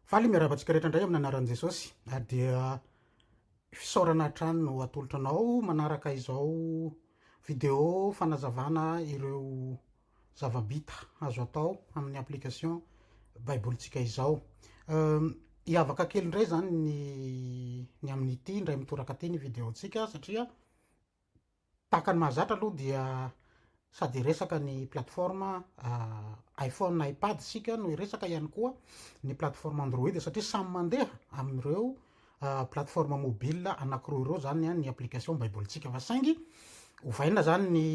Faly miarahaba antsika rehetra indray amin'ny anaran'i Jesosy. Na dia fisaorana hatrany no atolotra anao manaraka izao vidéo fanazavana ireo zava-bita azo atao amin'ny application Baibolintsika izao. Ehm, hiavaka kely indray izany ny ny amin'ity indray mitoraka ity ny vidéo-ntsika satria Tahaka ny mahazatra aloha dia sady hiresaka ny plateforme iPhone, iPad isika no hiresaka ihany koa ny plateforme Android satria samy mandeha amin'ireo plateforme mobile anankiroa ireo izany ny application Baibolintsika fa saingy ovaina izany ny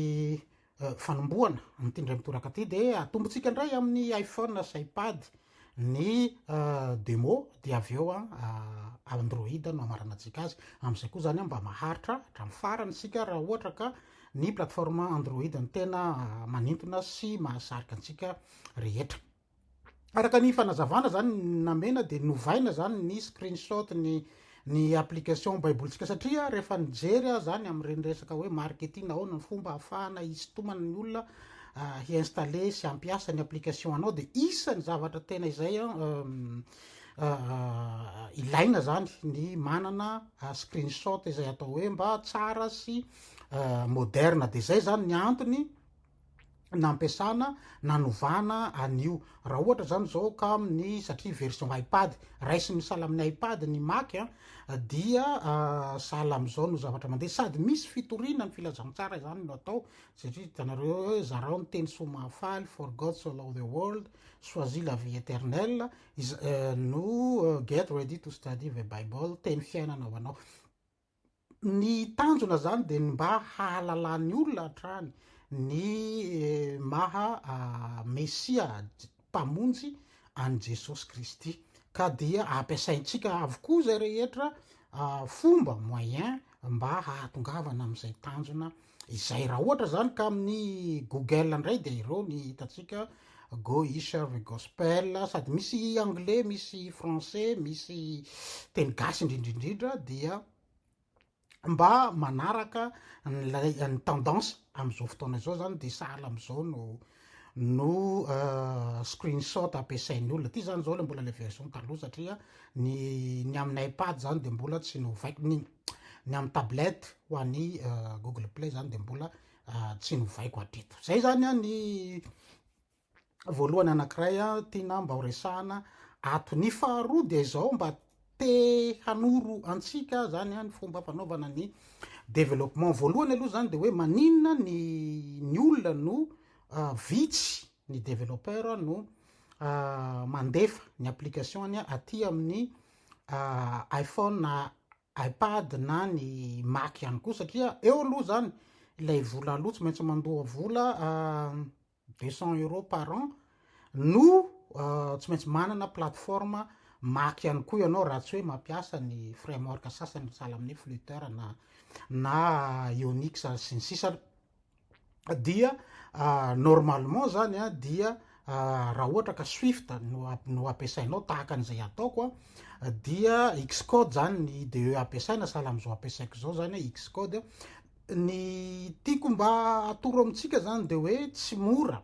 fanombohana amin'ity indray mitoraka ity dia atombotsika indray amin'ny iPhone sy iPad ny demo dia avy eo Android no hamaranantsika azy amin'izay koa zany mba maharitra hatramin'ny farany isika raha ohatra ka ny plateforme Android ny tena manintona sy mahasarika antsika rehetra Araka ny fanazavana zany namena dia novaina zany ny screenshot ny ny application baibolintsika satria rehefa nijery aho zany amin'ireny resaka hoe marketing ahoana ny fomba ahafahana hisintomana ny olona hi-installer sy hampiasa ny application anao dia isan'ny zavatra tena izay ilaina zany ny manana screenshot izay atao hoe mba tsara sy moderne dia zay zany ny antony nampiasana nanovana an'io raha ohatra zany zao ka amin'ny satria version ipad raisiny misala amin'ny ipad ny mac a dia ah, sahala amin'izao no zavatra mandeha sady misy fitoriana ny filazantsara izany no atao satria hitanareo hoe zarao ny teny soa mahafaly for God so love the world choisis la vie éternelle eh, no eh, get ready to study the bible teny fiainana ho anao Ny tanjona izany dia ny mba hahalalan'ny olona hatrany ny maha Mesia, Mpamonjy, an'i Jesosy Kristy. Ka dia ampiasaintsika avokoa izay rehetra fomba, moyen, mba hahatongavana amin'izay tanjona Izay raha ohatra izany ka amin'ny Google indray dia ireo ny hitantsika Go Isherve Gospel, sady misy anglais, misy français, misy teny gasy indrindrindrindra dia mba manaraka an'ilay ny tendance amin'izao fotoana izao zany dia sahala amin'izao no no euh, screenshot ampiasain'ny olona ty zany zao le mbola le version taloha satria ny ny amin'ny iPad zany dia mbola tsy novaikiny iny Ny amin'ny tablette ho an'ny google play zany dia mbola tsy novaiko hatreto. Zay zany an ny voalohany anankiray tiana mba ho resahana ato. Ny faharoa dia izao mba te hanoro antsika zany an ny fomba fanaovana ny développement. Voalohany aloha zany dia hoe maninona ny ny olona no vitsy ny développeur no mandefa ny application-ny aty amin'ny iPhone na iPad na ny Mac ihany koa satria eo aloha zany ilay vola aloha tsy maintsy mandoa vola deux cent euros par an no tsy maintsy manana plateforme Mac ihany koa ianao raha tsy hoe mampiasa ny framework sasany sahala amin'ny Flutter na na Unix sy ny sisa dia normalement zany a dia raha ohatra ka swift no no ampiasainao tahaka an'izay ataoko a dia xcode zany ny ide ampiasaina sahala am'izao ampiasaiko zao zany hoe xcode ny tiako mba atoro amintsika zany de hoe tsy mora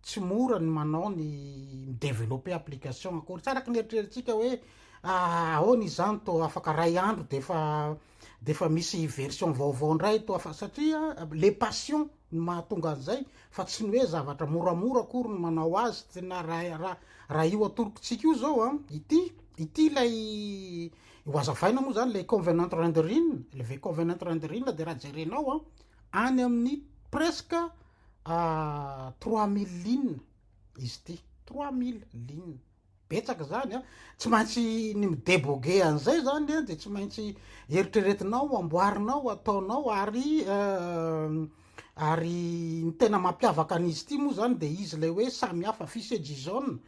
tsy mora ny manao ny mi-developper application akory tsy araka ny eritreritsika hoe ah, ahoana izany to afaka ray andro de fa de fa misy version vaovao indray to afa satria le passion ny mahatonga an'izay fa tsy ny hoe zavatra moramora akory ny manao azy tena raha raha io atorokitsika io zao a ah, ity ity ilay ho azavaina moa zany le convenant rendering le ve convenant rendering de raha jerenao a ah, any amin'ny presque Trois mille lignes izy ity, trois mille lignes, betsaka izany an! Tsy maintsy ny mi-debogue an'izay izany an, dia tsy maintsy eritreretinao, amboarinao, ataonao, ary ary ny tena mampiavaka an'izy ity moa izany dia izy ilay hoe samy hafa, fichier JSON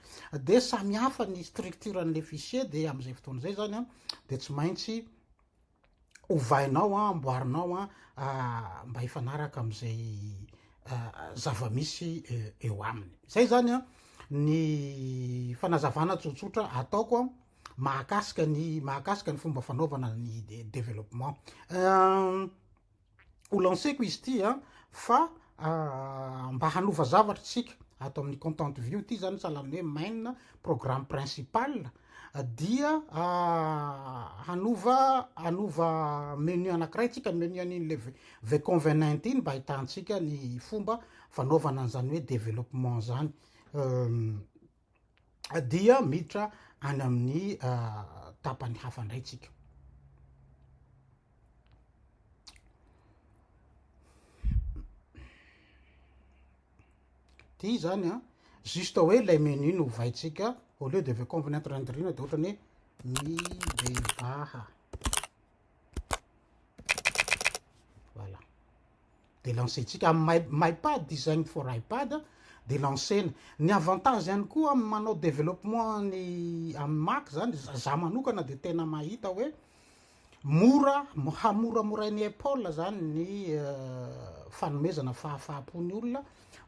dia samy hafa ny structure an'ilay fichier, dia amin'izay fotoana izay izany an dia tsy maintsy ovainao an, amboarinao an, mba hifanaraka amin'izay zava-misy eo aminy. Izay zany an, ny fanazavana tsotsotra ataoko an, mahakasika ny mahakasika ny fomba fanaovana ny développement. ho lanceko izy ity a, fa mba hanova zavatra isika ato amin'ny content view ity zany sahalan'ny hoe main programme principal dia hanova hanova menu anankiray tsika menu an'iny le vconvenant iny mba ahitantsika ny fomba fanaovana an'izany hoe développement zany dia miditra any amin'ny tapany hafa indray tsika ty zany a juste hoe ilay menu no vaitsika au lieu de ve convenant randrina de ohatrany hoe mibebaha Voilà. Dia lancer-tsika amin'ny MyPad izany for iPad dia lancer-na. Ny avantage ihany koa amin'ny manao développement ny amin'ny Mac izany, za manokana dia tena mahita hoe mora, hamoramorain'i Apple izany ny euh, fanomezana fahafaha-po ny olona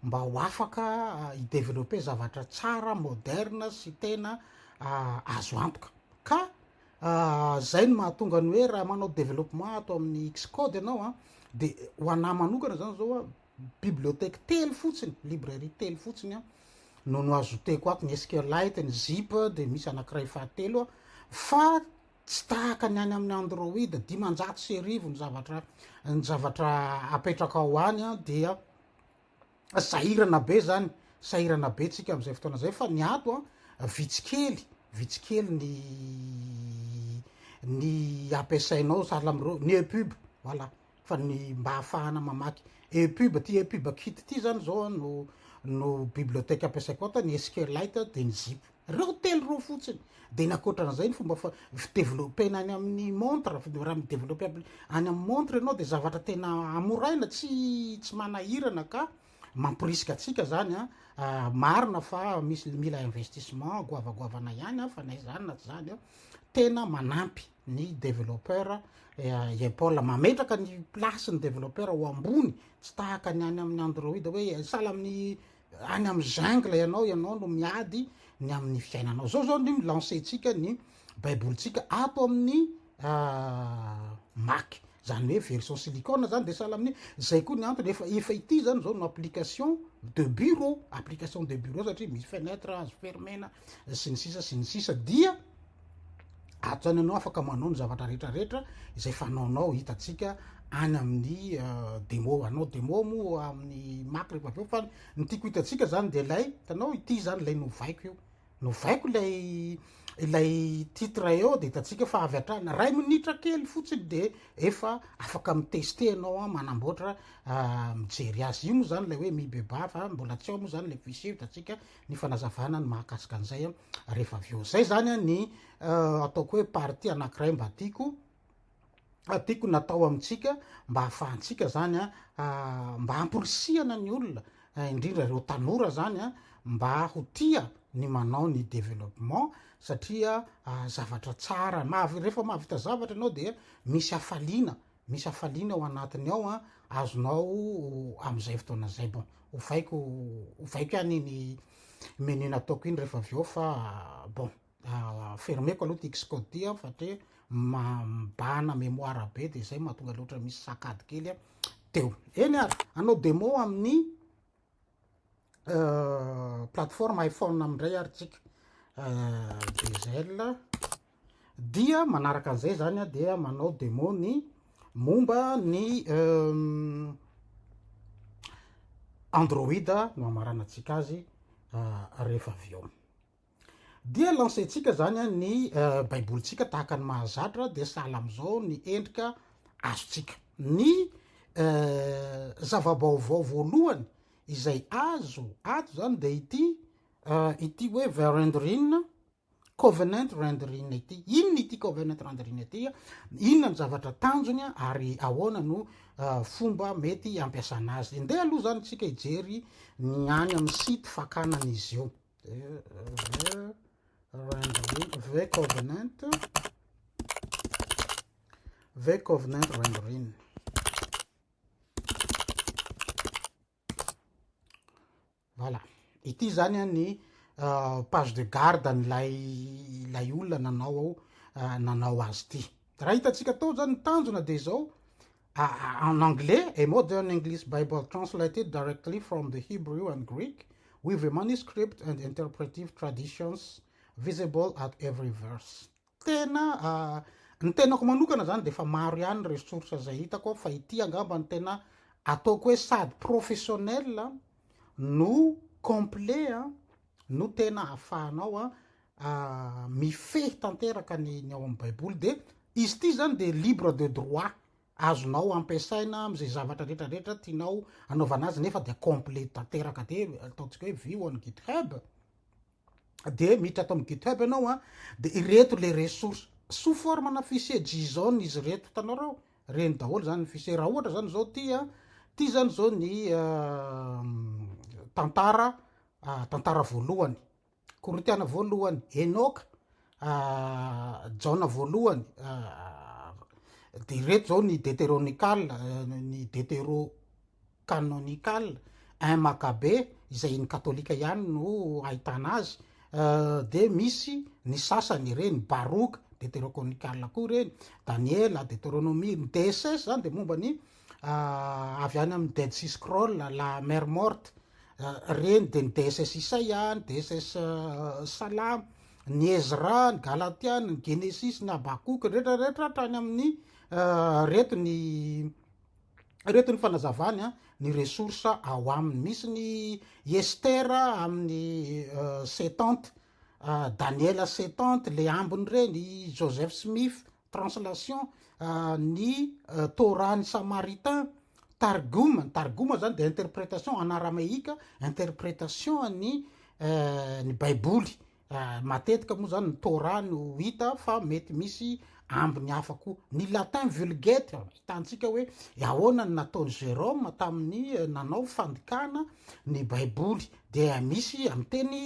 mba ho afaka euh, hi-développer zavatra tsara, moderne sy tena euh, azo antoka. Ka Izay no mahatonga ny hoe raha manao développement ato amin'ny Xcode ianao an, dia ho anà manokana izany izao an, bibliothèque telo fotsiny, librairie telo fotsiny an, no no ajouteko ato, ny SQLite, ny zip, dia misy anankiray fahatelo an, fa tsy tahaka ny any amin'ny Android, dimanjato sy arivo ny zavatra, ny zavatra apetraka ao any an, dia. Sahirana be zany, sahirana be tsika amzay fotoana zay fa ny ato an vitsy kely, vitsy kely ny ny ampiasainao sahala amreo, ny epub voilà fa ny mba ahafahana mamaky epub, ty epub kit ty zany zao an no no bibliothèque ampiasaiko ato an, ny SQLite dia ny zip. Reo telo reo fotsiny. De ny akoatran'izay ny fomba fa fideveloppena any amin'ny montre, raha midevelopper any amin'ny montre ianao de zavatra tena amoraina tsy tsy manahirana ka mamporisika antsika zany an, marina fa misy mila investissement goavagoavana ihany an fa na izany na tsy izany an, tena manampy ny developpeur i Apple, mametraka ny place ny developpeur ho ambony tsy tahaka ny any amin'ny android hoe sahala amin'ny Any amin'ny jungle ianao, ianao no miady ny amin'ny fiainanao. Zao zao ny lancer-tsika ny baibolintsika ato amin'ny Mac. Zany hoe version silicone zany dia sahala amin'ny zay koa ny antony efa efa ity zany zao no application de bureau, application de bureau satria misy fenêtre azo fermer-na, sy ny sisa sy ny sisa dia atsany anao afaka manao ny zavatra rehetrarehetra izay fanaonao hitatsika any amin'ny euh, demo anao demo moa amin'ny maky rehefa avy eo fa ny tiako hitatsika zany de lay tanao ity zany lay novaiko io novaiko lay ilay titre eo de hitatsika fa avy atrany ray minitra kely fotsiny de efa afaka miteste ianao a manamboatra euh, mijery azy io moa zany lay hoe mibeba fa mbola tsy ao moa zany le fichier hitatsika ny fanazavana ny mahakasika an'izay a rehefa avy eo zay zany a ny ataoko hoe partie anankiray mba tiako tiako natao amintsika mba hahafahantsika zany a mba hamporisihana ny olona indrindra reo tanora zany a mba ho tia ny manao ny développement satria zavatra tsara mahavy rehefa mahavita zavatra ianao dia misy hafaliana Misy hafaliana ao anatiny ao an, azonao amin'izay fotoana izay. Bon, ovaiko ovaiko ihany iny menu nataoko iny rehefa avy eo fa bon, fermeko aloha ity Xcode an satria mibahana mémoire be dia izay mahatonga azy ohatran'ny misy sakady kely teo. Eny ary, hanao demo amin'ny. plateforme iPhone amindray ary tsika diesel dia manaraka an'izay zany a dia manao demo ny momba ny android no amarana antsika azy rehefa avy eo Dia lancer-tsika izany ny Baibolintsika tahaka ny mahazatra, dia sahala amin'izao ny endrika azontsika. Ny zava-baovao voalohany izay azo ato izany dia ity, ity hoe Verendryn, Covenant Rendryn ity. Inona ity Covenant Rendryn ity? Inona ny zavatra tanjony ary ahoana no fomba mety hampiasana azy? Ndeha aloha izany isika hijery ny any amin'ny site fakana an'izy io. V-Covenant V-Covenant Rendering voilà ity izany a ny euh, page de garde an'ilay ilay olona nanao ao euh, nanao azy ity Raha hitantsika tao zany ny tanjona dia izao, en anglais, A Modern English Bible Translated Directly from the Hebrew and Greek, with the manuscript and interpretive traditions visible at every verse. Tena, ny tenako manokana zany dia efa maro ihany ireo source izay hitako aho fa ity angamba no tena ataoko hoe sady professionnel no complet no tena ahafahanao mifehy tanteraka ny ny ao amin'ny baiboly dia izy ity zany dia libre de droit azonao ampiasaina amin'izay zavatra rehetra rehetra tianao anaovana azy nefa dia complet tanteraka de ataontsika hoe view on github de miditra ato amin'ny github ianao a de ireto le ressource sous forme na fichier json izy ireto hitanao reo reny daholo zany ny fichier raha ohatra zany zao ty a ty zany zao ny euh, tantara ah, tantara voalohany Korintiana voalohany, Enoka, Jaona voalohany, dia ireto izao ny Deteronikal, ny Deterokanonikal, un Makabe, izay ny katolika ihany no ahitana azy, dia misy ny sasany ireny, Baroka, Deterokonikal koa ireny, Daniela, Deteronomia, ny DSS izany dia momba ny avy any amin'ny Dead Sea Scroll, La Mer Morte, ireny dia ny DSS Isaia, ny DSS Salamo, ny Ezra, ny Galatiana, ny Genesis, ny Habakoka, ny rehetra rehetra hatrany amin'ny reto ny reto ny fanazavany a ny ressource ao aminy misy ny Estera amin'ny Setante, Daniela Setante, le ambiny ireny, Joseph Smith, translation ny Torah ny Samaritain, Targum, ny Targum zany dia interpretation en arameika, interpretation ny ny baiboly, matetika moa zany ny Torah no hita fa mety misy ambiny hafa koa, ny latin vulgate ahitantsika hoe ahoana ny nataon'i Jérôme tamin'ny nanao fandikana ny baiboly dia misy amin'ny teny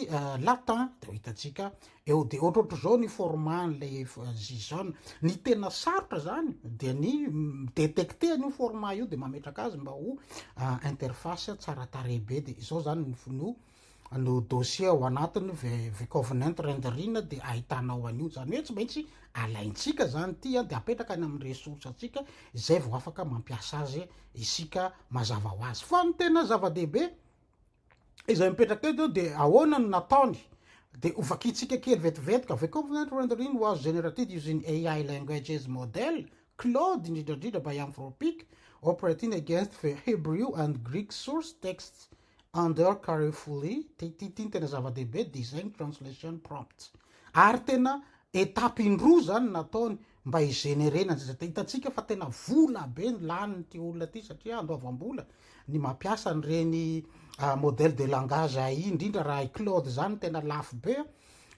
latin dia ho hitantsika Eo dia ohatrohatr'izao ny format an'ilay JSON. Ny tena sarotra izany dia ny mi-detecter an'io format io dia mametraka azy mba ho interface tsara tarehy be. Dia izao izany no no dossier ao anatiny vcovenant rendering dia ahitanao an'io. Izany hoe tsy maintsy alaintsika izany ity dia apetraka any amin'ny ressource antsika izay vao afaka mampiasa azy isika mazava ho azy. Fa ny tena zava-dehibe izay mipetraka eto dia ahoana no nataony dia ho vakintsika kely vetivetika The Covenant Rendering was generated using AI languages model Claude indrindra indrindra by Anthropic operating against the Hebrew and Greek source texts under carefully ity ny tena zava-dehibe design translation prompts ary tena étape indroa zany nataony mba hi-generena an'izay zavatra. Hitantsika fa tena vola be ny lanin'ity olona ity satria andoavam-bola ny mampiasa an'ireny modèle de langage AI indrindra raha i Claude izany tena lafo be a.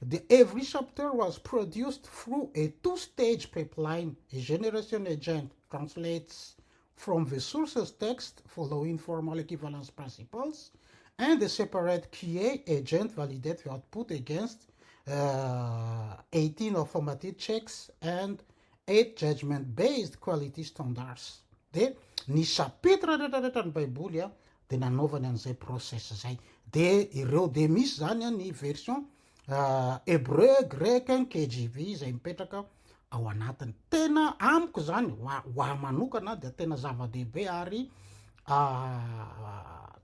The every chapter was produced through a two-stage pipeline, a generation agent translates From the sources text for the informal equivalence principles and the separate QA agent validate the output against uh, 18 affirmative checks and 8 judgment-based quality standards. Dia ny chapitre rehetrarehetra ny Baiboly dia nanaovany an'izay process izay. Dia ireo dia misy izany ny version Hebreu, greka, KJV izay mipetraka ao anatiny. Tena amiko zany, ho ahy manokana dia tena zava-dehibe ary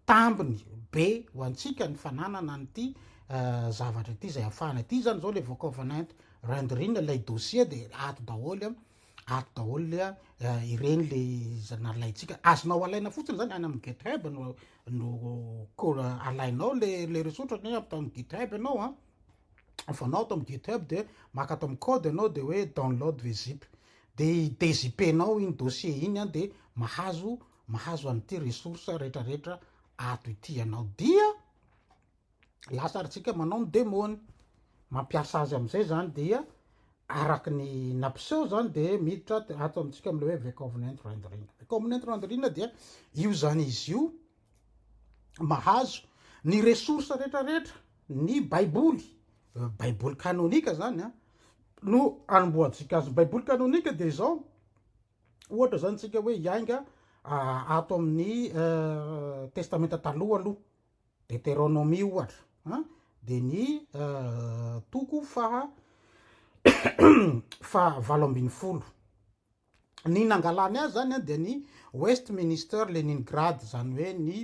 tambiny be ho antsika ny fananana an'ity zavatra ity izay afahana. Ity zany izao le vokaovanay rendering ilay dossier dia ato daholo Ato daholo le a, ireny le izay nalaintsika. Azonao alaina fotsiny zany any amin'ny GitHub no no ko- alainao le le ressource ohatra ny hoe ato amin'ny GitHub ianao a. Afanao ato amin'ny GitHub dia maka ato amin'ny code ianao dia hoe download the zip. Dia i-dezip-enao iny dossier iny a dia mahazo mahazo an'ity ressource rehetrarehetra ato ity ianao. Dia lazarintsika manao ny demony mampiasa azy amin'izay zany dia araka ny nampiseho zany dia miditra ato amintsika am'le hoe vecovenant rendering vecovenant rendering dia io zany izy io mahazo ny ressource rehetrarehetra ny baiboly euh, baiboly kanonika zany a ah, no anombohantsika azy baiboly kanonika dia izao ohatra zany tsika hoe iainga ah, ato amin'ny euh, testamenta taloha aloha Deteronomia ohatra a dia ny toko faha faha valo ambin'ny folo. Ny nangalany azy zany a dia ny Westminster Leningrad zany hoe ny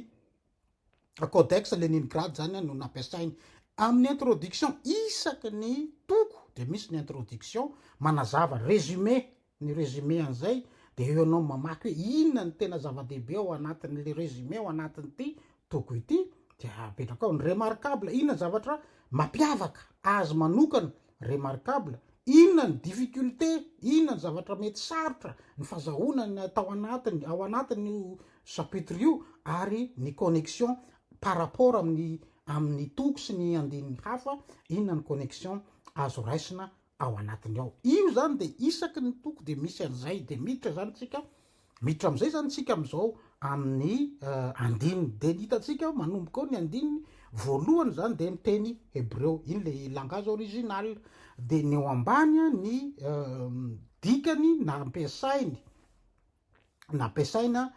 codex Leningrad zany a no nampiasainy. Amin'ny introduction isaky ny toko dia misy ny introduction manazava, résumé, Ny résumé an'izay dia eo ianao mamaky hoe inona ny tena zava-dehibe ao anatin'ilay résumé ao anatin'ity toko ity dia apetrakao ny remarquable, inona ny zavatra mampiavaka azy manokana, remarquable, inona ny difficulté, inona ny zavatra mety sarotra ny fazahoana ny tao anatiny, ao anatin'io chapitre io ary ny connexion par rapport amin'ny amin'ny toko sy ny andininy hafa, inona ny connexion azo raisina ao anatiny ao. Io zany de isaky ny toko de misy an'izay de miditra zany tsika miditra am'izay zany tsika am'izao amin'ny andininy de ny hitantsika manomboka ao ny andininy voalohany zany de ny teny hebreo iny le langage original de ny eo ambany ny dikany nampiasainy nampiasaina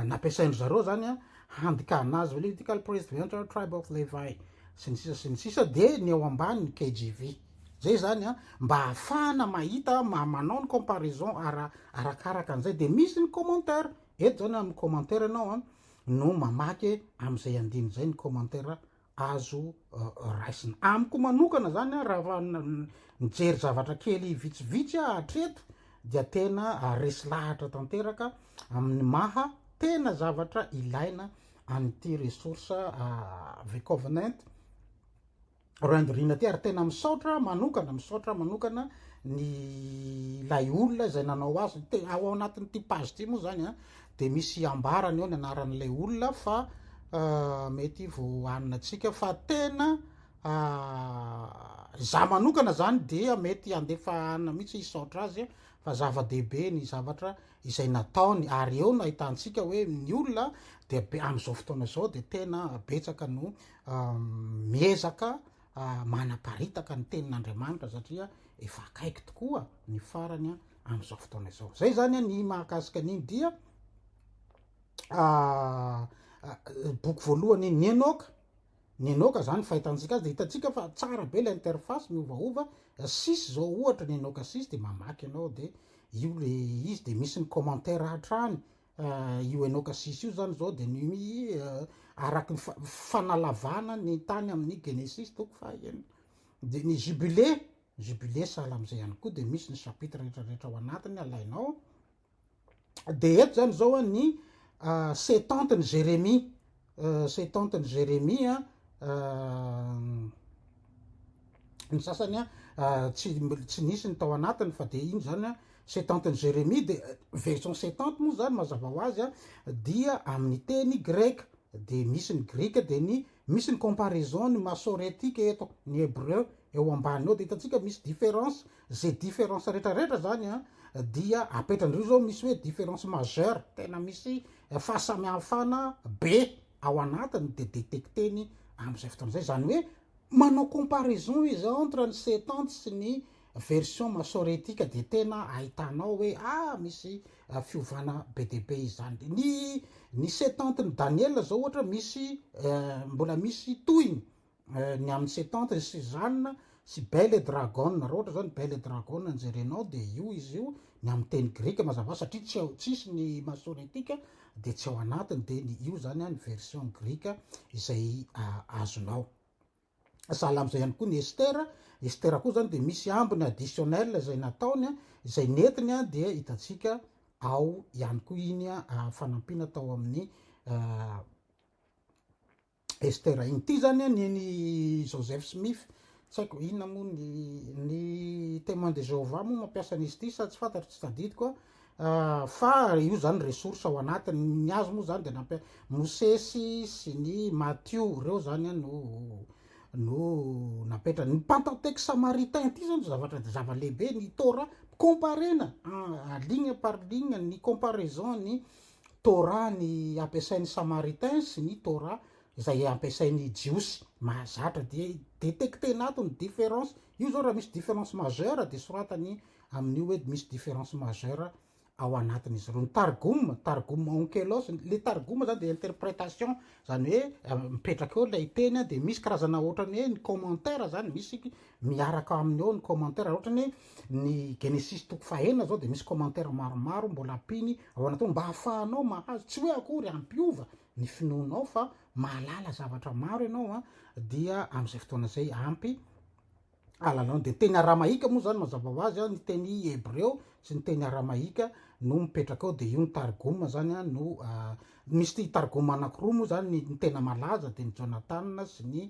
nampiasain-dry zareo zany a handikana azy hoe Levitical priest the entire tribe of Levi sy ny sisa sy ny sisa de ny ao ambany ny KJV zay zany a mba hahafahana mahita ma- manao ny comparaison ara arakaraka an'izay de misy ny commentaire eto zany amin'ny commentaire ianao a no mamaky amin'izay andininy izay ny commentaire azo raisina. Amiko manokana zany a, raha mijery zavatra kely vitsivitsy aho hatreto dia tena resy lahatra tanteraka amin'ny maha tena zavatra ilaina an'ity ressource VCovenant rendering ity, ary tena misaotra aho manokana, misaotra aho manokana ny ilay olona izay nanao azy, ao anatin'ity page ity moa zany a, dia misy ambarany eo ny anaran'ilay olona fa mety vao hanina antsika fa tena za manokana zany dia mety handefa hanina mihitsy hisaotra azy fa zava-dehibe ny zavatra izay nataony ary eo no ahitantsika hoe ny olona dia be amin'izao fotoana izao dia tena betsaka no miezaka manaparitaka ny tenin'Andriamanitra satria efa akaiky tokoa ny farany amin'izao fotoana izao zay zany a ny mahakasika an'iny dia ah, ah, boky voalohany ny enoka ny enoka zany fahitantsika azy de hitantsika fa tsara be la interface miovaova sis zao ohatra ny enoka sis de mamaky ianao de io le izy de misy ny commentaire hatrany ah, io enoka sis io zany zao de ny ah, araky ny fanalavana ny tany amin'ny genesis toko fahaenina de ny jubilé Jubilé sahala amin'izay ihany koa dia misy ny chapitre rehetra rehetra ao anatiny alainao dia eto zany zao a ny setante ny Jérémie setante ny Jérémie a ny sasany a tsy tsy nisy ny tao anatiny fa dia iny zany a setante ny Jérémie dia version setante moa zany mazava ho azy a dia amin'ny teny greka dia misy ny grika dia ny Misy ny comparaison ny masoretic eto ny hebreu eo ambany eo dia hitantsika misy difference ze difference rehetra rehetra zany an dia apetrandrio zao misy hoe difference majeur tena misy fahasamihafana be ao anatiny dia detecteny amizay fotoana zay zany hoe manao comparaison izy entre ny setante sy ny Version masoretika dia tena ahitanao hoe ah misy fiovana be dia be izany. Ny ny setante ny Daniela zao ohatra misy mbola misy tohiny ny amin'ny setante ny Suzanne sy Belle et Dragon raha ohatra zao ny Belle et Dragon no jerenao dia io izy io ny amin'ny teny grika mazava satria tsy ao tsisy ny masoretika dia tsy ao anatiny dia ny io zany ny version grika izay azonao. sahala amin'izay ihany koa ny Ester, Ester koa izany dia misy ambiny additionnel izay nataony, izay nentiny dia hitantsika ao ihany koa iny fanampiana tao amin'ny Ester iny. Ity izany ny eny Joseph Smith, tsy haiko inona moa ny ny Témoin de Jéhovah moa mampiasa an'izy ity sa tsy fantatro, tsy tadidiko. Fa io zany ressource ao anatiny, ny azy moa zany de nampia- Mosesy sy ny Matio, reo zany an no no napetra- ny Pentateuque Samaritain ity zao no zavatra zava-lehibe, ny Torah comparena en ligne par ligne ny comparaison ny Torah ny ampiasain'ny Samaritains sy ny Torah izay ampiasain'ny Jiosy, mahazatra dia i- detecter-na ato ny différence, io zao raha misy différence majeure de soratan'ny Amin'io edy misy différence majeur ao anatin'izy ireo. Ny targum, targum onkelos, le targum zany dia interpretation, zany hoe mipetraka eo ilay teny dia misy karazana ohatrany hoe ny commentaire zany, misy miaraka aminy eo ny commentaire, raha ohatrany hoe ny Genesis toko fahenina zao dia misy commentaire maromaro mbola ampiny ao anatin'io mba ahafahanao mahazo, tsy hoe akory hampiova ny finoanao fa mahalala zavatra maro ianao dia amin'izay fotoana izay ampy. alalany. Dia teny aramaika moa izany mazava ho azy, ny teny hebreo sy ny teny aramaika no mipetraka ao, dia io ny targoma izany no misy targoma anankiroa moa izany, ny tena malaza dia ny Jonatana sy ny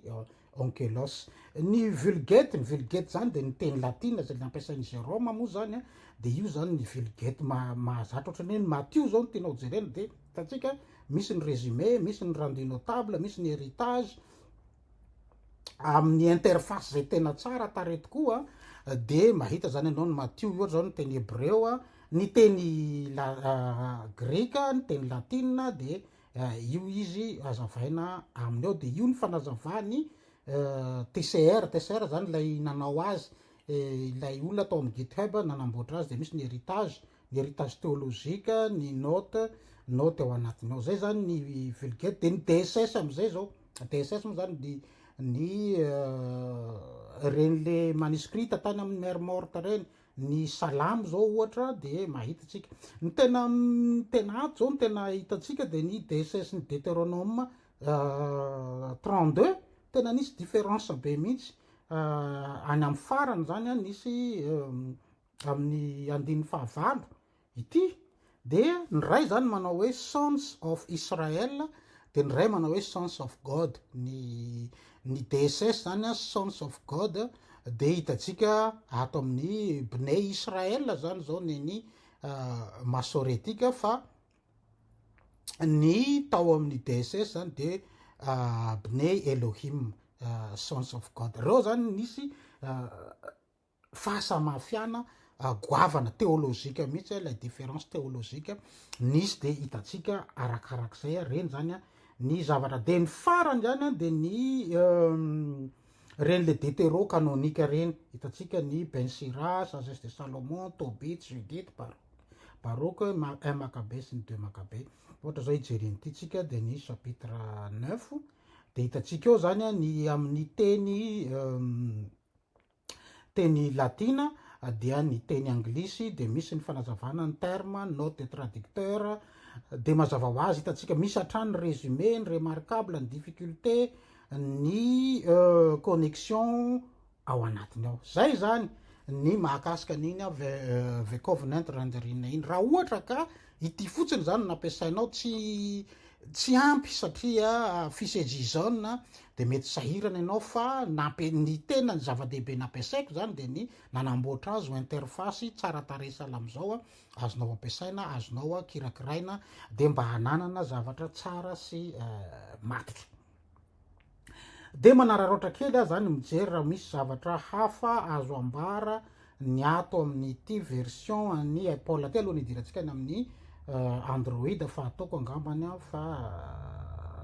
Onkelos. Ny Vulgate, ny Vulgate izany dia ny teny latina izay nampiasain'i Jérôme moa izany, dia io izany ny Vulgate mahazatra, ohatra ny hoe ny Matio izao no tianao jerena dia hitantsika misy ny résumé, misy ny rendu notable, misy ny héritage, amin'ny interface izay tena tsara tarehy tokoa dia mahita zany ianao ny Matio ohatra izao ny teny hebreo a, ny teny grika, ny teny latina dia io izy hazavaina aminy ao dia io ny fanazavany TCR, TCR zany ilay nanao azy ilay olona tao amin'ny GitHub nanamboatra azy dia misy ny heritage heritage théologique, ny note, note ao anatiny ao, zay zany ny vulgate, de ny DSS amizay zao, DSS moa zany ny ny reny le manuscrite tany aminy mer morte reny, ny salamo zao ohatra de mahita tsika, ny tena tena ato zao ny tena hitantsika de ny DSS ny Deuteronome 32 tena nisy difference be mihitsy, any am farany zany an nisy amin'ny andininy fahavalo ity dia ny iray zany manao hoe sons of Israel dia ny iray manao hoe sons of God ny ny DSS zany a sons of God dia hitantsika ato amin'ny bne Israel zany zao neny masoretika fa ny tao amin'ny DSS zany dia bne Elohim sons of God reo zany nisy fahasamafiana goavana théologique mihitsy ilay différence théologique nisy dia hitantsika arakarak'izay ary ireny izany ny zavatra dia ny farany izany dia ny ireny le détéro canonique ireny hitantsika ny Ben Sira, Sagesse de Salomon, Tobit, Judith, Baroque, un Maccabée sy ny deux Maccabée ohatra izao hijerena ity tsika dia ny chapitre neuf dia hitantsika eo izany ny amin'ny teny teny latina dia ny teny anglisy dia misy ny fanazavana ny terme, note de traducteur dia mazava ho azy hitantsika misy hatrany ny résumé, ny remarquable, ny difficulté, ny connexion ao anatiny ao. Izay izany ny mahakasika an'iny ve covenant rendering iny. Raha ohatra ka Ity fotsiny izany no nampiasainao, tsy tsy ampy satria fisejizon dia mety sahirana ianao fa nampi- ny tena ny zava-dehibe nampiasaiko izany dia ny nanamboatra azy ho interface tsara tarehy sahala amin'izao a, azonao ampiasaina, azonao kirakiraina dia mba hananana zavatra tsara sy matotra. Dia manararaotra kely aho zany mijery raha misy zavatra hafa azo ambara ny ato amin'ity version an'i Apple ity aloha ny hidirantsika any amin'ny Android fa ataoko angambany aho fa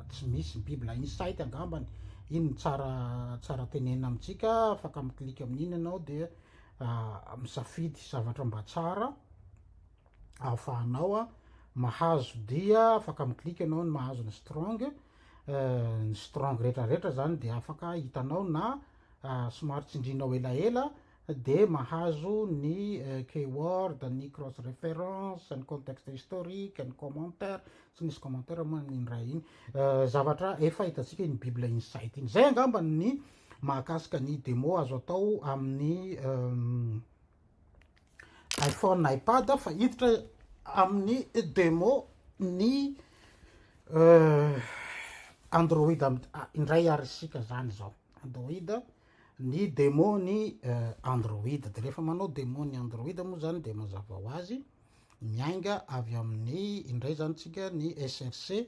tsy misy bible insight angambany iny tsara tsara tenena amintsika afaka miklika amin'iny ianao dia misafidy zavatra mba tsara ahafahanao mahazo dia afaka miklika ianao ny mahazo ny strong ny strong rehetra rehetra zany dia afaka hitanao na somary tsindrinao elaela dia mahazo ny keyword ny cross reference ny contexte historique ny commentaire tsy nisy commentaire moa ny indray iny zavatra efa hitantsika iny bible insight iny zay angamba ny mahakasika ny demo azo atao amin'ny iPhone, iPad aho fa hiditra amin'ny demo ny Android indray ary isika zany zao Android ny demo ny Android de rehefa manao demo ny Android moa zany de mazava ho azy miainga avy amin'ny indray zany tsika ny SRC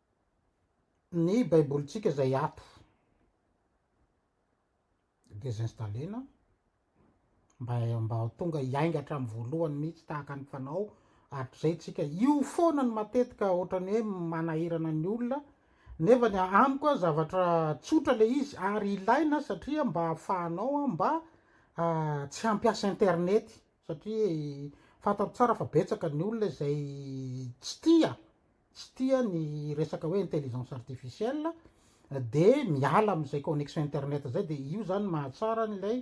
ny baibolintsika izay ato desinstaller-na mba mba ho tonga hiainga hatramin'ny voalohany mihitsy tahaka ny fanao hatrizay tsika io foana ny matetika ohatran'ny hoe manahirana ny olona nefa ny amiko a zavatra tsotra le izy ary ilaina satria mba hahafahanao a mba ah, tsy hampiasa internety satria eh, fantaro tsara fa betsaka ny olona izay tsy tia tsy tia ny resaka hoe intelligence artificielle dia miala amin'izay connexion internet izay dia io zany mahatsara an'ilay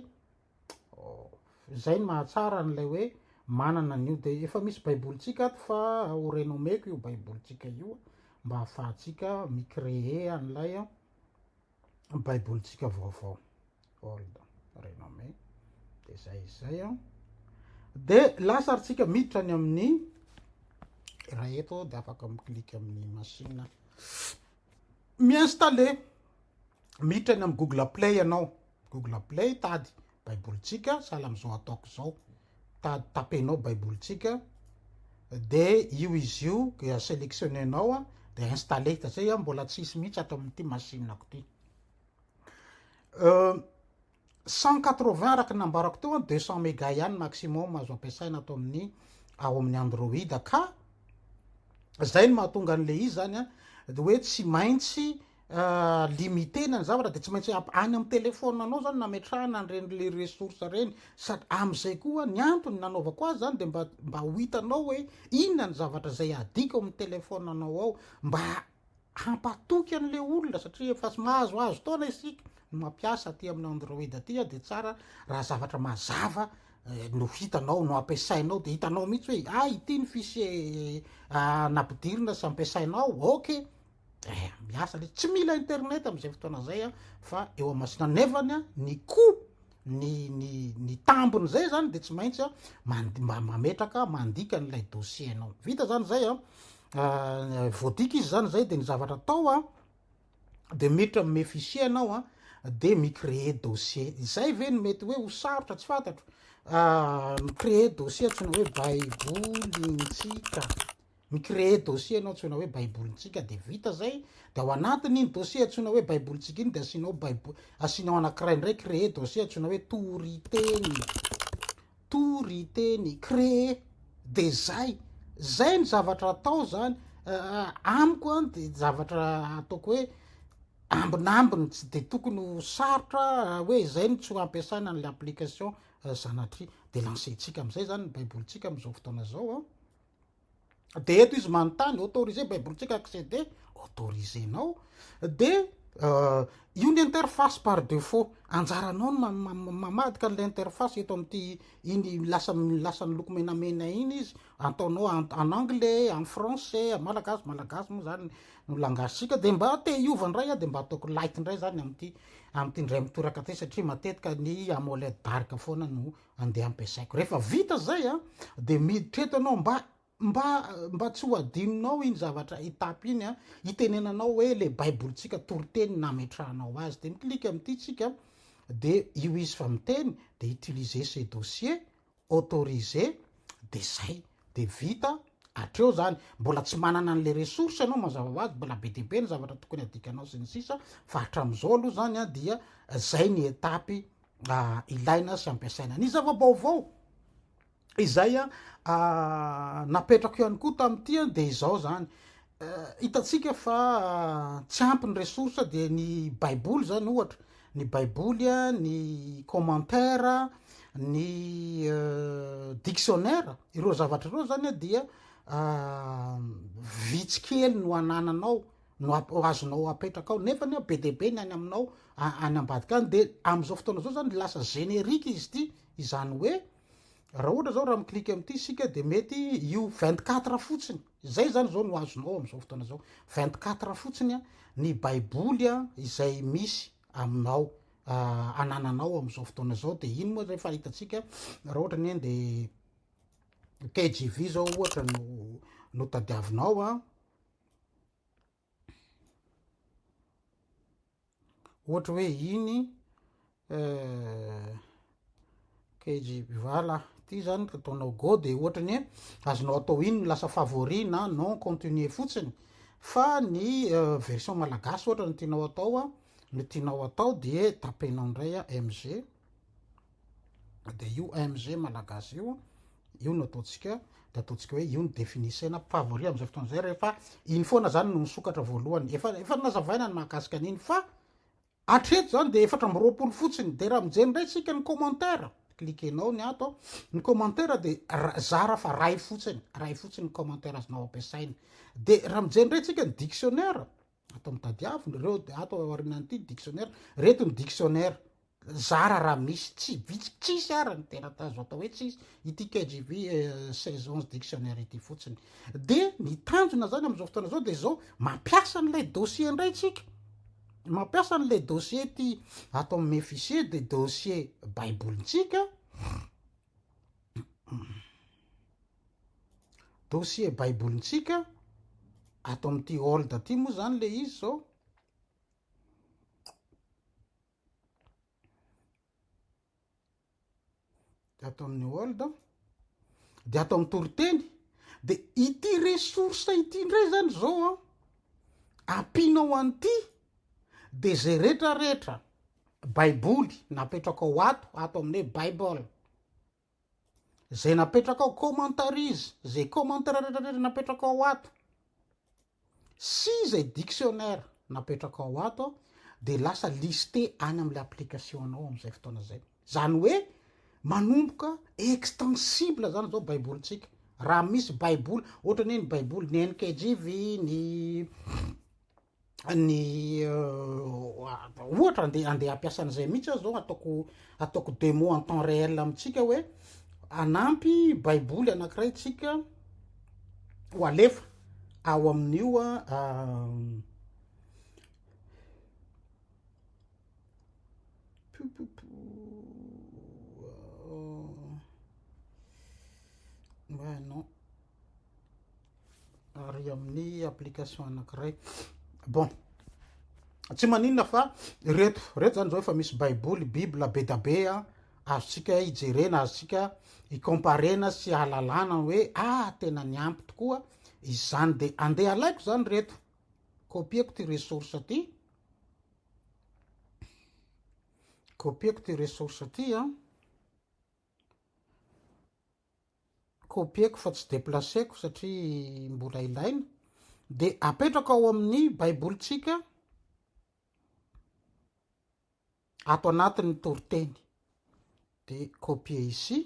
izay ny mahatsara an'ilay hoe manana an'io dia efa misy baibolintsika ato fa ho renommeko io baibolintsika io mba hahafahantsika mi-créer an'ilay Baibolintsika vaovao, old renommée, dia izay izay an. Dia lasa ary tsika miditra any amin'ny iray eto dia afaka mi-click amin'ny machine. Mi-installer, miditra any amin'ny Google Play ianao. Google Play, tady. baibolintsika, sahala amin'izao ataoko izao, tady tapenao baibolintsika, de io izy io dia sélectionnenao a, de installer, fa zay a mbola tsy hisy mihitsy ato amin'ity machine-ko ity. Euh, 180 araka ny nambarako teo a, 200 méga ihany maximum azo ampiasaina ato amin'ny ao amin'ny Android ka zay no mahatonga an'le izy zany a, de hoe tsy maintsy limiter-na ny zavatra de tsy maintsy any amin'ny téléphone anao zany nametrahana an'ireny le ressource ireny sady amin'izay koa ny antony nanaovako azy zany de mba mba ho hitanao hoe inona ny zavatra izay adiko amin'ny téléphone anao ao mba hampatoky an'le olona satria efa mahazo azo taona isika ny mampiasa aty amin'ny android aty de tsara raha zavatra mazava eh, no hitanao no ampiasainao de hitanao mihitsy hoe ah ity ny fichier eh, ah, nampidirina sy ampiasainao ok Eh, miasa le tsy mila internet am'izay fotoana zay a fa eo amasina nefany a ny ko ny ny ny tambiny zay zany de tsy maintsy a mand- mba mametraka mandika an'ilay dossier anao vita zany zay a Ah, voadika izy zany zay de ny zavatra atao a de miditra ame fichier anao a de mi-créer dossier izay ve no mety hoe ho sarotra tsy fantatro Ah, mi-créer dossier antsoina hoe baibolintsika Mi-creer dossier ianao antsoina hoe Baibolintsika dia vita izay, dia ao anatin'iny dossier antsoina hoe Baibolintsika iny dia asianao Baibo, asianao anankiray indray creer dossier antsoina hoe Toriteny. Toriteny, creer. Dia izay. Izay ny zavatra atao izany. Eh, amiko an, dia zavatra ataoko hoe ambinambiny tsy dia tokony ho sarotra raha hoe izay no tsy ho ampiasana an'ilay application eh, Zanatria. Dia lancer-ntsika amin'izay izany ny Baibolintsika amin'izao fotoana izao an. de eto izy manontany autorisé baibolintsika accéder autorisé nao de euh, io ny interface par defaut anjaranao ny mamadika an'ilay interface eto amin'ity iny lasa lasa ny loko menamena iny izy ataonao en anglais en français malagasy malagasy moa zany no langasika de mba te hiova indray a de mba ataoko light indray zany amin'ity amin'ity indray mitoraka ty satria matetika ny amoled dark foana no andeha ampiasaiko. Rehefa vita zay a, de miditra eto ianao mba mba mba tsy ho adinonao iny zavatra étape iny a, itenenanao hoe le baibolitsika toriteny nametrahanao azy de mi-click amin'ity tsika de io izy fa miteny de utiliser ce dossier, autoriser de zay de vita hatreo zany. Mbola tsy manana an'le ressource ianao mazava ho azy, mbola be dia be ny zavatra tokony adikanao sy ny sisa fa hatramin'izao aloha zany a dia zay ny étape ilaina sy ampiasaina. Ny zava-baovao izay napetrako ihany koa tamin'ity dia izao zany. Hitantsika fa tsy ampy ny ressources dia ny baiboly zany ohatra, ny baiboly, ny commentaire, ny dictionnaire, ireo zavatra ireo zany dia vitsy kely no anananao no azonao apetraka ao nefa ny be dia be ny any aminao any ambadika any dia amin'izao fotoana izao zany lasa générique izy ity izany hoe raha ohatra zao raha mi-clique amin'ity isika dia mety io 24 fotsiny izay zany izao no azonao amin'izao fotoana izao 24 fotsiny a ny baiboly a izay misy aminao anananao amin'izao fotoana izao dia iny moa zay fa hitantsika raha ohatra ny dia KJV zao ohatra no no tadiavinao a ohatra hoe iny kgval ah ty zany ka ataonao go de ohatra ny hoe azonao atao iny ny lasa favori na non continue fotsiny fa ny version malagasy ohatra ny tianao atao a no tianao atao de tapenao indray a mg dia io AMG malagasy io io no ataontsika dia ataontsika hoe io ny définissena favori amin'izay fotoana izay rehefa iny foana zany no nisokatra voalohany efa efa nazavaina ny mahakasika an'iny fa atreto zany dia efatra amby roapolo fotsiny dia raha mijery indray tsika ny commentaire cliquenao ny ato ny commentaire dia zara fa ray fotsiny ray fotsiny ny commentaire azonao ampiasaina dia raha mijery indray tsika ny dictionnaire Ato amin'ny tadiavina ireo dia ato aorianan'ity dictionnaire, reto ny dictionnaire zara raha misy, tsy vitsy, tsisy ara ny tena tazo atao hoe tsisy, ity KJV 16 11 dictionnaire ity fotsiny. Dia ny tanjona zany amin'izao fotoana izao dia izao, mampiasa an'ilay dossier indray tsika. Mampiasa an'ilay dossier ity ato amin'ny Mefisier dia dossier Baibolintsika. Dossier baibolintsika ato amin'ity hold aty moa zany le izy zao. De ato amin'ny hold de ato amin'ny toriteny de ity ressource ity ndray zany zao a ampinao an'ity de zay retraretra Baiboly napetrakao ato, ato amin'ny hoe Bible. Izay napetrakao, commentaries, izay commentaire rehetrarehetra napetrakao ao ato, sy izay dictionnaire napetrakao ao ato, dia lasa liste any amin'ilay application anao amin'izay fotoana izay. Izany hoe manomboka extensible izany izao Baibolintsika. Raha misy Baiboly, ohatra ny hoe ny Baiboly, ny NKJV, ny ny ohatra andeha andeha hampiasa an'izay mihitsy aho zao ataoko ataoko demo en temps réel amintsika hoe anampy baiboly anankiray tsika ho alefa ao amin'io ary amin'ny application anankiray bon tsy maninona fa reto reto zany zao efa misy baiboly bible bedabe a azontsika hijerena azontsika hikomparena sy halalana hoe a ah, tena ny ampy tokoa izany de andeha alaiko zany reto kopieko ty ressource ty kopieko ty ressource ty a Copieko fa tsy deplaceko satria mbola ilaina. Dia apetrako ao amin'ny baibolintsika ato anatin'ny toriteny. Dia copier ici.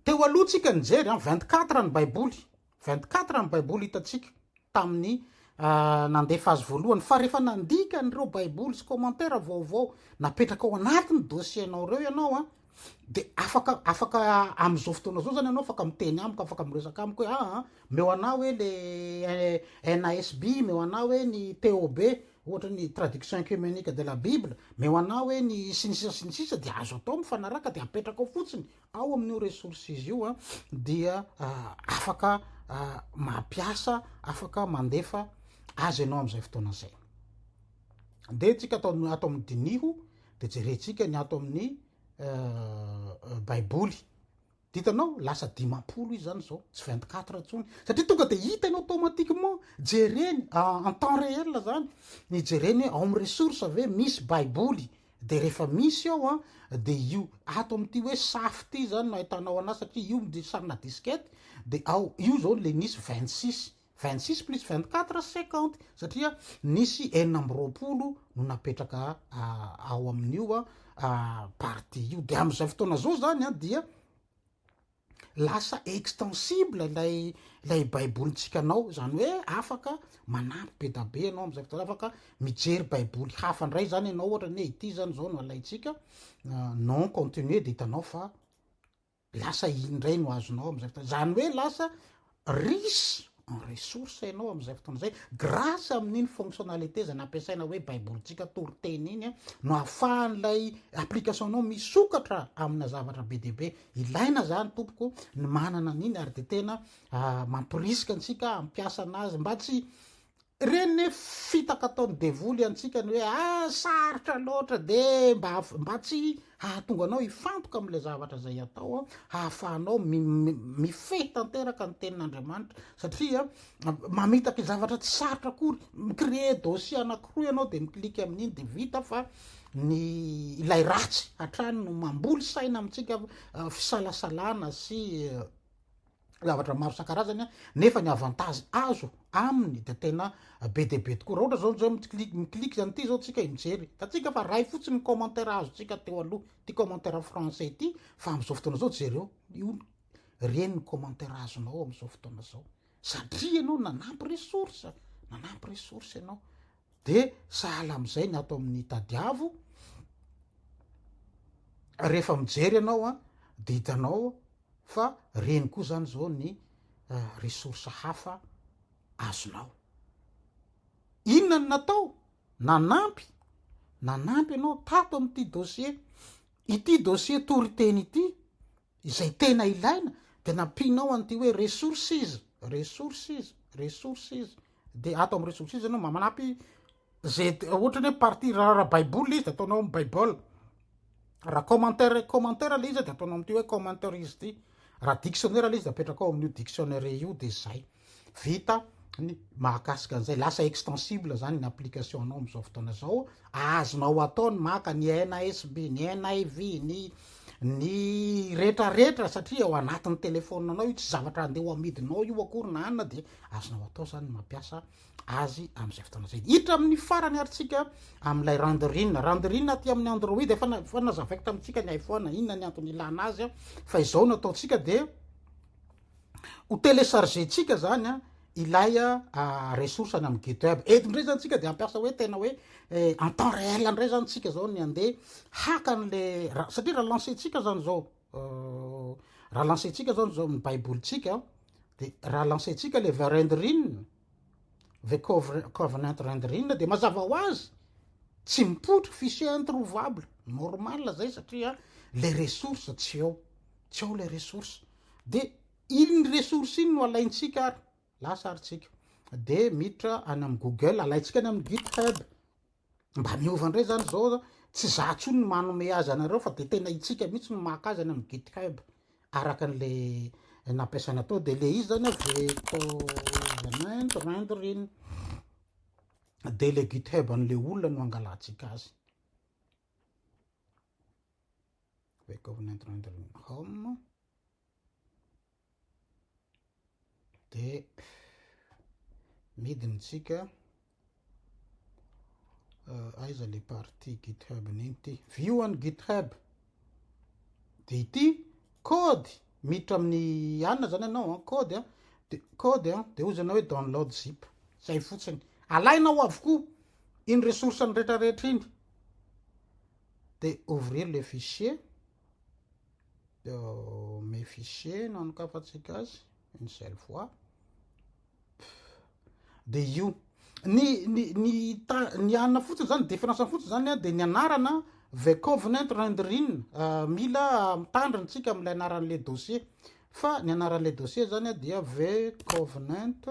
Teo aloha tsika nijery 24 ny baiboly. Vingt-quatre ny Baiboly hitantsika tamin'ny nandefa azy voalohany, fa rehefa nandika an'ireo Baiboly sy kômantera vaovao napetraka ao anatin'ny dosienao ireo ianao a, dia afaka afaka amin'izao fotoana izao izany ianao afaka miteny amiko, afaka miresaka amiko hoe aa meo anah hoe le NASB, meo anah hoe ny TOB, ohatra ny Traduction Œcumenique de la Bible, meo anah hoe ny sy ny sisa sy ny sisa dia azo atao mifanaraka dia apetraka ao fotsiny Ao amin'io resources io dia afaka mampiasa, afaka mandefa azy ianao amin'izay fotoana izay. Dia antsika ato amin'ny diniho dia jerentsika ny ato amin'ny Baiboly. Ditanao lasa dimampolo izy zany zao, tsy 24 intsony. Satria tonga dia hita ianao automatiquement, jereny en temps réel zany. Ny jereny hoe ao amin'ny ressources ve misy Baiboly de rehefa misy ao an de io ato amty hoe safy ty zany no ahitanao anazy satria io misy sarina diskety de ao io zao le misy vingt six vingt six plus vingt quatre cinquante satria nisy enina amby roapolo no napetraka ao aminio partie io de amzao fotoana zao zany an dia lasa extensible ilay ilay baibolintsika anao zany hoe afaka manampy be da be ianao am'zay fotoana afaka mijery baiboly hafa ndray zany ianao ohatra ny hoe ity zany zao no alaintsika ah, non continue de hitanao fa lasa iny ndray no azonao am'zay fotoana zany hoe lasa Riche en ressources ianao amin'izay fotoana izay, grâce amin'iny fonctionnalité izay nampiasaina hoe Baibolintsika toriteny iny no ahafahan'ilay application-nao misokatra amina zavatra be dia be. Ilaina izany tompoko ny manana an'iny ary dia tena mamporisika antsika hampiasa an'azy mba tsy Ireny ne fitaka ataon'ny devoly antsika ny hoe ah sarotra loatra de mba mba tsy hahatonga anao hifantoka amin'ilay zavatra izay atao aho hahafahanao mifehy tanteraka ny tenin'Andriamanitra satria mamitaka zavatra tsy sarotra akory mi-créer dossier anankiroa ianao de mi-clique amin'iny de vita fa ny ilay ratsy hatrany no mamboly saina amintsika fisalasalana sy zavatra maro isan-karazany nefa ny avantage azo aminy dia tena be dia be tokoa raha ohatra zao zao mi-click mi-click zany ity zao tsika mijery hitantsika fa ray fotsiny ny commentaire azontsika teo aloha ity commentaire français ity fa amin'izao fotoana izao jereo io ireny ny commentaire azonao amin'izao fotoana izao satria ianao nanampy ressource nanampy ressource ianao dia sahala amin'izay ny ato amin'ny tadiavo rehefa mijery ianao a dia hitanao Fa reny koa zany zao ny ressource hafa azonao. Inona no natao? Nanampy, nanampy anao tato amin'ity dossier, ity dossier toriteny ity, izay tena ilaina dia nampianao an'ity hoe ressources, ressources, ressources, dia ato amin'ny ressources ianao manampy Ze ohatrany hoe partie raha baiboly le izy de ataonao am bible raha commentaire commentaire le izy de ataonao amty hoe commentaire izy ty raha dictionnaire le izy de apetrakao aminio dictionnaire io de zay vita ny mahakasika anzay lasa extensible zany ny application nao amzao fotoana zao azonao atao ny maka ny NASB ny NIV ny ny retra retra satria ao anatiny telephone nao io tsy zavatra ande ho amidinao io akory na anona de azonao atao zany ny mampiasa azy amin'izay fotoana izay. Hiditra amin'ny farany ary tsika amin'ilay Renderin. Renderin aty amin'ny Android, efa efa nazavaiko tamintsika ny iPhone inona ny antony ilana azy fa izao no ataontsika dia ho télécharger-tsika zany ilay ressource any amin'ny GitHub. Eto ndray zany tsika dia ampiasa hoe tena hoe eh, en temps réel ndray zany tsika zao ny andeha haka an'le satria raha lancer-tsika zany zao raha lancer-tsika zao zao ny baibolintsika de raha lancer-tsika le vers rendrine the covenant rendrine de mazava ho azy tsy mipotro fichier introuvable normal zay satria le ressource tsy eo tsy eo le ressource de iny ressource iny no alaintsika ary lasa ary tsika de miditra any am google alaintsika any am github mba miova ndray zany zao a, tsy za tsony no manome azy anareo fa de tena itsika mitsy no maka azy any amin'ny GitHub araka anle nampiasaina tao, de le izy zany a vectorment rendering de le GitHub anle olona no angalatsika azy, vectorment rendering home. dia midiny tsika euh, aiza le partie github niny ty view any github de ity code miditra amin'ny anina zany anao an code an de code an de ozy anao hoe download zip zay fotsiny alainao avokoa iny ressource ny retrarehetra iny de ouvrir le fichier Mes fichiers no anokafantsika azy, une seule fois. Dia io. Ny ny ny ny anona fotsiny zany différence fotsiny zany dia ny anarana the covenant rendering euh, mila mitandrina tsika amin'ilay anaran'le dossier. Fa ny anaran'le dossier zany dia the covenant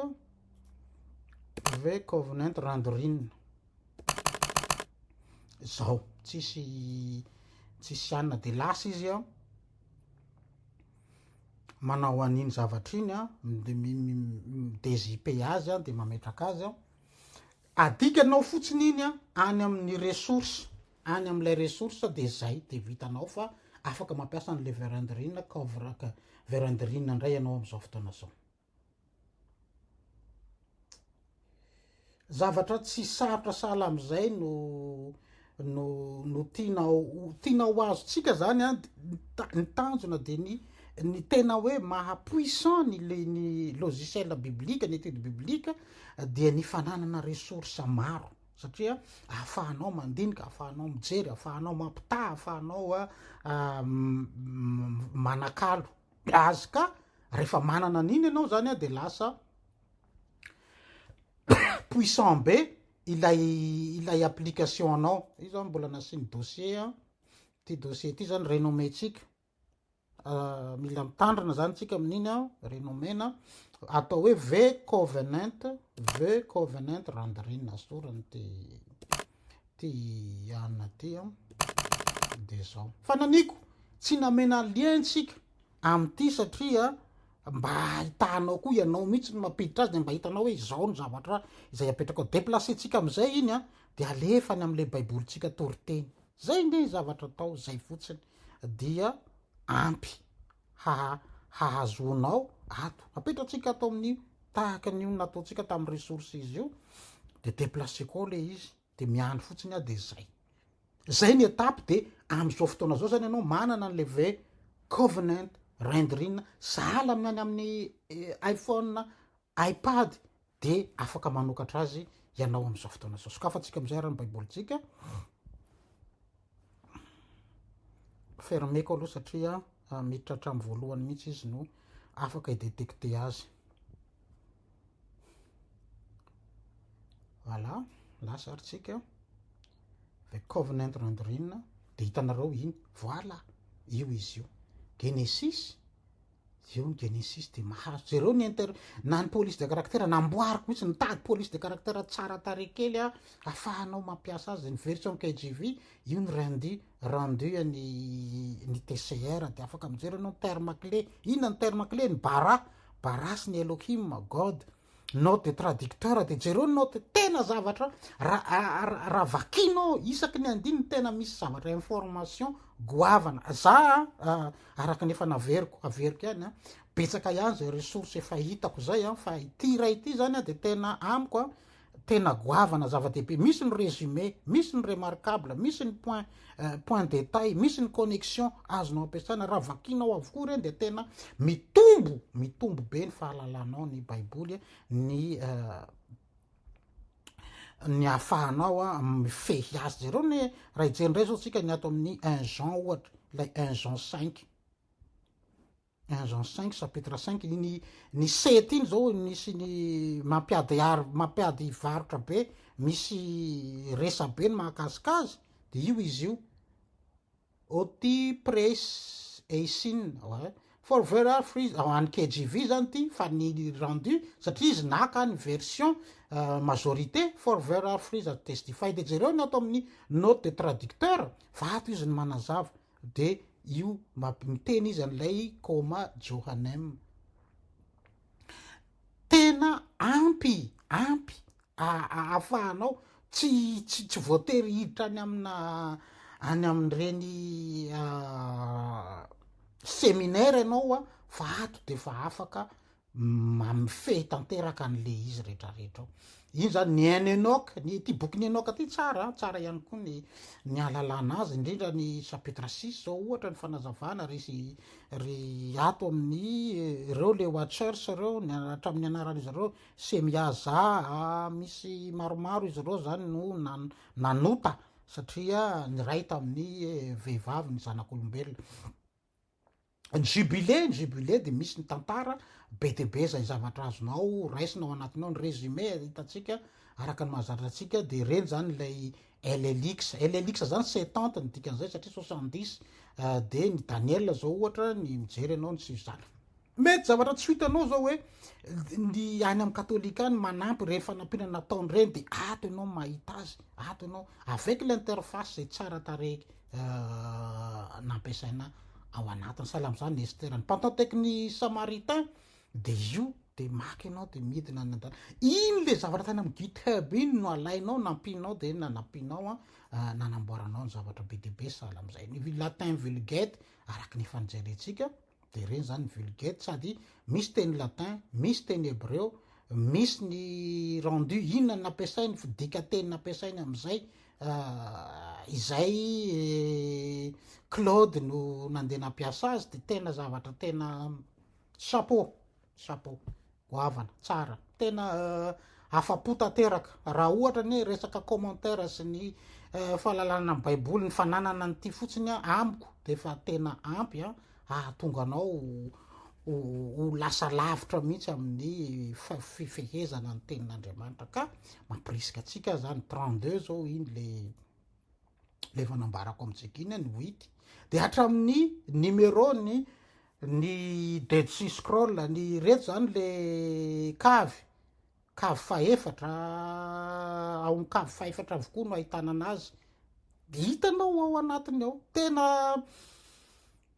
the covenant rendering. zao tsisy tsisy anina de lasa izy a manao an'iny zavatra iny a de mi-mi-mi-dezipe azy a de mametraka azy a adikanao fotsiny iny a any amin'ny ressource any amin'ilay ressource de zay de vitanao fa afaka mampiasa an'le verandrine cover-ka verandrine ndray ianao am'zao fotoana zao Zavatra tsy sarotra sahala amin'izay no no no tiana tiana ho azontsika zany a, ny tanjona dia ny ny tena hoe maha puissant ny le ny logiciel biblique, ny étude biblique dia ny fananana ressource maro satria ahafahanao mandinika, ahafahanao mijery, ahafahanao mampitaha, ahafahanao manakalo. Gaz ka rehefa manana an'iny ianao zany dia lasa puissant be ilay ilay application anao. Io zany mbola nasiany dossier an. Ity dossier ity zany renommée tsika. Ah, mila mitandrina zany tsika amin'iny an, renommée na atao hoe V covenant, V covenant rendering sorany ity. ty anona ty an de zao. Fananiko tsy namena lien tsika amty satria mba ahitanao koa ianao mihitsy ny mampiditra azy de mba hitanao hoe izao ny zavatra izay apetraka ao deplacer tsika amizay iny an de alefa any amle baiboly tsika toriteny zay nge ny zavatra atao zay fotsiny dia ampy hahazoanao ato. Apetratsika ato amin'ny tahaka an'io nataontsika tamin'ny resources io, dia deplacer-ko ao ilay izy, dia miandry fotsiny aho, dia zay. Zay ny étape, dia amin'izao fotoana izao zany ianao manana an'ilay ve covenant rendering sahala amin'ny any amin'ny eh, iPhone iPad dia afaka manokatra azy ianao amin'izao fotoana izao. Sokafantsika amin'izay ary ny Baibolintsika. Fermeko aloha satria ah, miditra hatramin'ny voalohany mihitsy izy no afaka i-detecter azy. Voilà, lasa ary tsika. The Covenant Rendering, dia hitanareo iny. Voilà, io izy io. Genesis, Eo ny Genesis dia mahazo, jereo ny inter, na ny police de caractère, namboariko mihitsy, nitady police de caractère tsara tarehy kely aho, afahanao mampiasa azy, ny version KJV, io ny rendu, rendu an'ny ny TCR, dia afaka mijery anao ny terme clé, inona ny terme clé, ny bara, bara sy ny Elohim, God, note de traducteur de jereo note tena zavatra raha vakinao isaky ny andininy tena misy zavatra information goavana za ah, araka ny efa naveriko averiko ihany a ah, betsaka ihany zay ressource efa hitako zay a ah, fa ity iray ity zany a de tena amiko a tena goavana zava-dehibe misy ny résumé misy ny remarquable misy ny point point detail, misy ny connexion azonao ampiasana, raha vakinao avokoa ireny dia tena mitombo, mitombo be ny fahalalanao ny baiboly, ny ny ahafahanao mifehy azy. Jereo ny raha hijery indray izao tsika ny ato amin'ny un Jean ohatra, ilay un Jean cinq. Engins cinq chapitre cinq iny ny sept iny zao misy ny mampiady ary mampiady varotra be misy resabe ny mahakasika azy de io izy io oty press eisin oe for very hard free ao any KGV zany ty fa ny rendu satria izy naka ny version majorité for very hard free za testified jereo ny ato amin'ny note de traducteur vato izy ny manazava De io map miteny izany lay Koma Johanem. Tena ampy ampy ahafahanao tsy tsy tsy voatery hiditra any amina any amin'ireny seminaire ianao fa ato dia efa afaka mamifehy tanteraka an'le izy retraretra ao. Iny zany ny un Enoch, ny ity bokin'i Enoch ty tsara an, tsara ihany koa ny ny ahalalana azy, indrindra ny chapitre six zao ohatra ny fanazavana ry ry ato amin'ny ireo le watchers ireo ny hatramin'ny anaran'izy ireo Semyaza a, misy maromaro izy ireo zany no nan- nanota satria niray tamin'ny vehivavy ny zanak'olombelona. Ny jubilé, ny jubilé dia misy ny tantara be dia be izay zavatra azonao raisina ao anatiny ao, ny résumé hitantsika araka ny mahazatra antsika dia ireny izany ilay LLX. LLX izany setante ny dikan'izay satria soixante dix dia ny Daniela izao ohatra ny mijery ianao ny sivizana. Mety zavatra tsy ho hitanao izao hoe ny any amin'ny katolika any manampy ireny fanampiana nataony ireny dia ato ianao mahita azy, ato ianao avec l'interface izay tsara tarehy nampiasaina ao anatiny. Sahala amin'izany i Esther. Ny pantan tech ny Samaritain dia izy io dia maka ianao dia midina any an-dalana. Iny ilay zavatra tany amin'ny GitHub iny no alainao, nampianao dia nanampianao an, ah, nanamboaranao ny zavatra be dia be sahala amin'izay. Ny latin vulgate, araka ny efa nijerentsika, dia ireny izany ny vulgate sady misy teny latin, misy teny hebreo, misy ny rendu inona ny nampiasainy, ny dikanteny nampiasainy amin'izay, ah, izay eh, Claude no nandeha nampiasa azy, dia tena zavatra tena chapeau. Chapeau. Goavana. Tsara. Tena afa-po tanteraka. Raha ohatra anie resaka commentaire sy ny fahalalana ny baiboly, ny fananana an'ity fotsiny amiko dia efa tena ampy hahatonga anao ho lasa lavitra mihitsy amin'ny fifehezana ny tenin'Andriamanitra. Ka mampirisika antsika zany 32 zao iny le ilay efa nambarako amintsika iny ny wit dia hatramin'ny numéro ny ny dead sea scroll ny reto zany le kavy kavy fahefatra ao amin'ny kavy fahefatra avokoa no ahitana anazy hitanao ao anatiny ao tena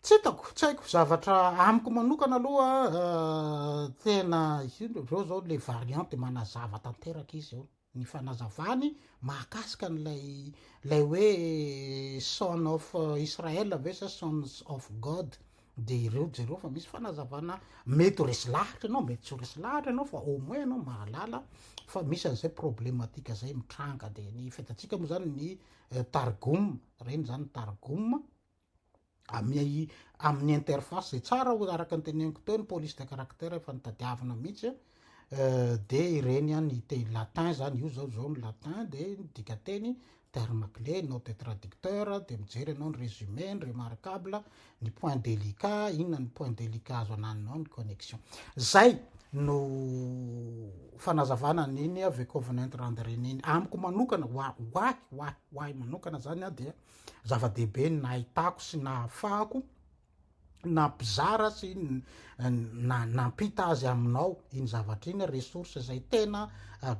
tsy hitako tsy haiko zavatra amiko manokana aloha eh, tena izao zao le variante manazava tanteraka izy eo ny fanazavany mahakasika an'ilay ilay hoe son of Israel ve sa sons of God de ireo jereo fa misy fanazavana mety ho resy lahatra ianao mety tsy ho resy lahatra ianao fa au moins ianao mahalala fa misy an'izay problematika zay mitranga de ny fitatsika moa zany ny targum reny zany targum amin'ny amin'ny interface zay tsara ho araka ny teneniko teo ny police de caractère efa nitadiavina mihitsy euh, de ireny an ny teny latin zany io zao zao ny latin de dika teny terme clé nao de traducteur de mijery ianao ny résumé ny remarquable ny point délicat inona ny point délicat azo ananonao ny connexion zay no fanazavana niny ave covenant randereniny amiko manokana ho ahy ho ahy ho ahy manokana zany a dia Zava-dehibe ny nahitako sy nahafahako nampizara sy nampita azy aminao iny zavatra iny, ressource izay tena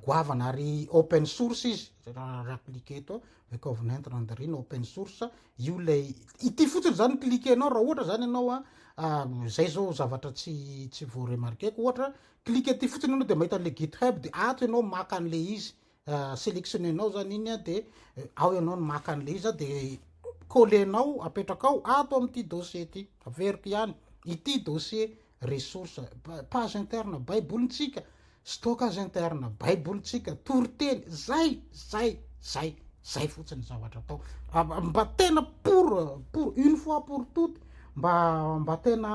goavana ary open source izy, raha cliquer eto The Covenant Rendering open source, io ilay ity fotsiny izany no cliquer-nao raha ohatra izany ianao a, izay izao zavatra tsy tsy voa-remarquer-ko ohatra, cliquer ity fotsiny ianao dia mahita an'ilay GitHub dia ato ianao maka an'ilay izy selectionner-nao zany iny a de ao ianao no maka an'le izy a de coller-nao apetrakao ato amin'ity dossier ity averiko ihany ity dossier ressource page interne baibolintsika stockage interne baibolintsika toriteny zay zay zay zay fotsiny zavatra atao mba tena pour pour une fois pour toute mba mba tena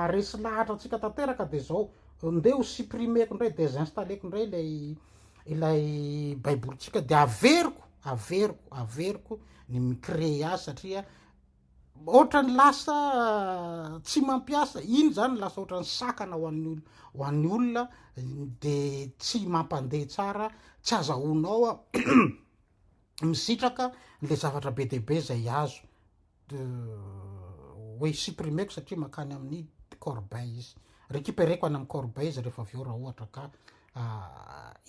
aresy lahatra antsika tanteraka de zao ndeha ho supprimer-ko indray désinstaller-ko indray ilay ilay baibolintsika dia averiko averiko averiko ny micree azy satria ohatra ny lasa tsy mampiasa iny zany lasa ohatra ny sakana ho an'ny olo ho an'ny olona de tsy mampandeha tsara tsy aza honao a misitraka le zavatra be deibe zay azo de we supprimer-ko satria makany amin'ny corbeille izy, recuperer-ko any amin'ny corbeille izy rehefa avy eo raha ohatra ka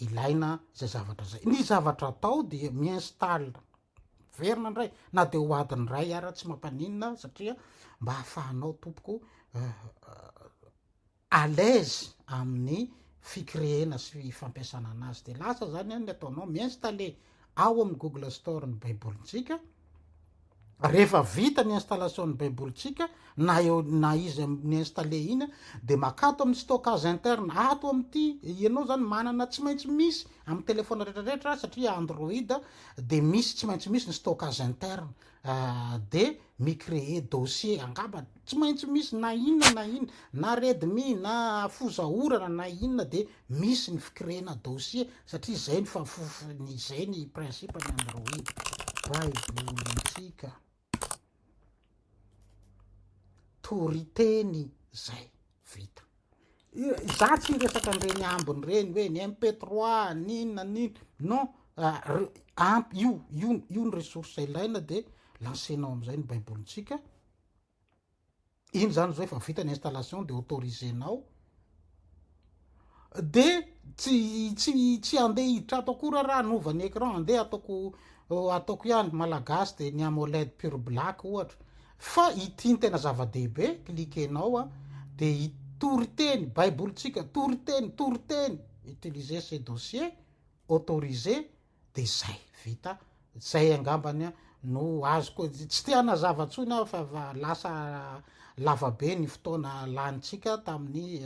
ilaina izay zavatra izay. Ny zavatra atao dia mi-install miverina indray na dia ho adiny iray ara tsy mampaninona satria mba ahafahanao tompoko à l'aise amin'ny fikreena sy fampiasana anazy dia lasa izany an ny ataonao mi-installer ao amin'ny google store ny baibolintsika, rehefa vita ny installation ny baibolintsika na eo na izy ni-installer iny an dia makà ato amin'ny stockage interne ato amin'ity ianao izany manana tsy maintsy misy amin'ny téléphone rehetra rehetra satria android dia misy tsy maintsy misy ny stockage interne dia mi-creer dossier angamba tsy maintsy misy na inona na inona na redmi na foza orana na inona dia misy ny fi-creer-na dossier satria izay ny fahafofony izay ny principe ny android baibolintsika toriteny izay vita. Izaho tsy hiresaka an'ireny ambiny ireny hoe ny MP3 ny inona ny inona, non, ampy io, io, io ny ressource ilaina dia lancer-nao amin'izay ny Baibolintsika. Iny izany izao efa vita ny installation dia autoriser-nao. de tsy tsy tsy andeha hiditra ato akory raha hanova ny écran andeha ataoko ataoko ihany malagasy de ny amoled pure black ohatra fa ity ny tena zava-dehibe cliquenao a de hitory teny baibolintsika tory teny tory teny utiliser ces dossiers autorisé de zay, vita, zay angambany an no azoko, tsy te hanazava tsony aho fa efa lasa lava be ny fotoana lanintsika tamin'ny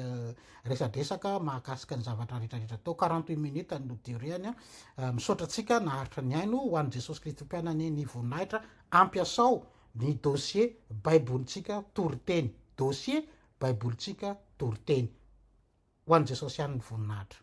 resadresaka mahakasika ny zavatra rehetra rehetra tao, quarante huit minutes no durée-ny an, misaotra antsika naharitra nihaino, ho an'i Jesosy Kristy Mpianany ny voninahitra, ampiasao ny dossier Baibolintsika Toriteny, dossier Baibolintsika Toriteny. Ho an'i Jesosy ihany ny voninahitra.